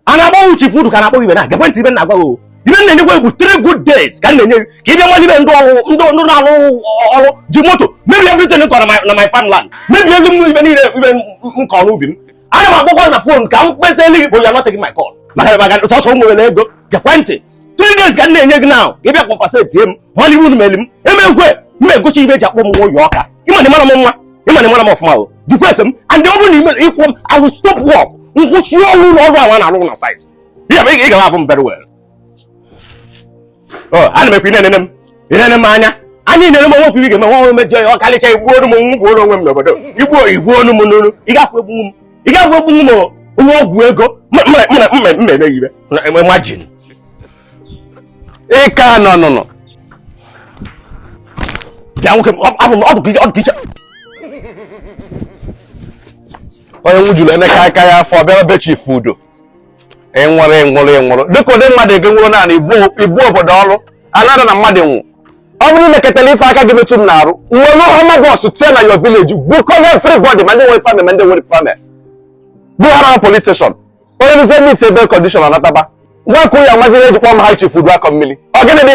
a na-agbanwe ọ chifu udu ka na-akpọ ibe na gekwe ntị ibe m na-agwa gị ibe m na-enyekwa gị bụ three good days ka m na-enye gị ka ị bịa nwale ibe ndị ọrụ ndị ndị na-arụ ọrụ ji moto mebi everything m kọrọ na my farmland mebi ego m ibe niile ibe m kọrọ n'ubi m ana m akpọkwa na fon ka m kpesaalụ gị kpọ ya nọteghị my call maka maka sọsọ m nwere ego gekwe ntị three days ka m na-enye gị now ị bịa compensatie m mana iwu meli m emekwe m egosi ibe eji akpọ m nwa ụyọ ọka ịmana ịmara m nwa ịmana ịmara m ọfụma o jikwa ese m and ọ bụrụ na ị kwụghị m I will stop work nkwụsị ọrụ ụlọ ọrụ ahụ a na-arụ na site ị ga-akwụ m very well oh, ana m ekwu ị na-enene m ị na-enene m anya anyị na-ere m onwe ga-eme nwa mejọ ya ọ kalịcha igbuo onu m nwụfuo onwe m n'obodo igbuo igbuo onu m n'onu ị ga-egbu m ị ga-egbu m onye ọgwụ ego mmemme ibe imagine ị ka nọ n'ụnọ bịa nwoke ọdụ ka iche onye nwụjuru emeka aka ya afọ bịara be chifu udu ịnwụrụ ịnwụrụ ịnwụrụ dịka ụdị mmadụ ege nwụrụ naanị ibu obodo ọrụ anara na mmadụ nwụ ọ bụrụ lekọtara ife aka gị metụ m n'arụ m were hummer bus tinye na your village bukọrọ everybody ma ndị nwere family ma ndị nwere family buhara police station onye rụzie meet bail condition anataba nwa ka ụya nwaziri eji akpọ m aha chifu udu akọ mmiri ọ gịnị dị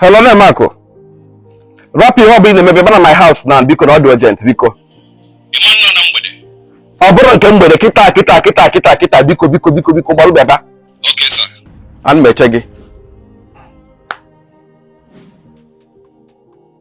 hello nne Marco rapụ ihe ọ bụla ị na-eme bịaba na my house now biko na ọ dị urgent biko ọ bụrọ nke mgbede kịta kịta kịta kịta kịta biko biko biko biko gbalụ bịaba ana m eche gị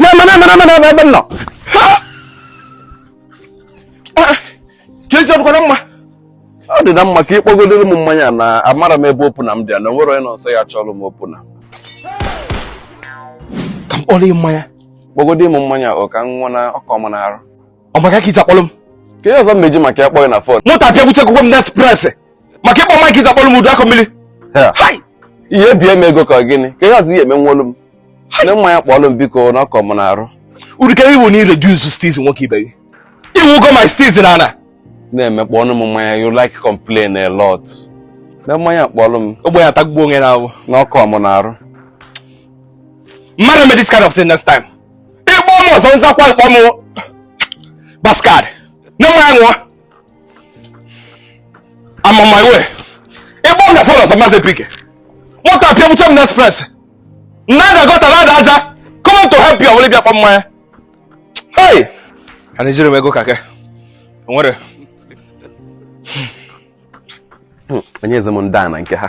na-eme na-eme na-eme na-eme ebe m nọ ka ezi ọ dịkwa na mma ọ dị na mma ka ị kpọgodoro m mmanya na amara m ebe opu nna m dị na nwere onye nọ nso ya chọrọ m opu nna m ka m kpọrọ mmanya kpọgodi mụ mmanya ka m ṅụa na ọ kọ m n'arụ ọ maka ka iji akpọrọ m ka ihe ọzọ mmeji maka ya kpọghị na fon moto apịa gbuche akwụkwọ m na express maka ịkpọ mike iji akpọrọ m udu akọ mmiri ihe bie m ego ka gịnị ka ihe ọzọ ihe eme nwolu m nne mmanya kpọọlụ m biko na ọ kọ m n'arụ urukere iwu na ị reduce steeze nwoke ibe gị i gbugo my steeze na ana na-eme kpọọnụ m mmanya you like complain a lot na mmanya kpọọlụ m ogbe ya tagbuo onwe na awụ na ọ kọ m n'arụ mmadụ me this kind of thing next time ị kpọ m ọzọ m zakwa ị kpọ m bastard na mụwa I'm on my way ị kpọ m na fon ọzọ m pickie moto apịa gbuche m na express nna ada gọta na ada aja come to help you ọwụlị bịa kpọ mmanya hey a na-ejiri m ego kake nwere onye eze m ndị a na nke ha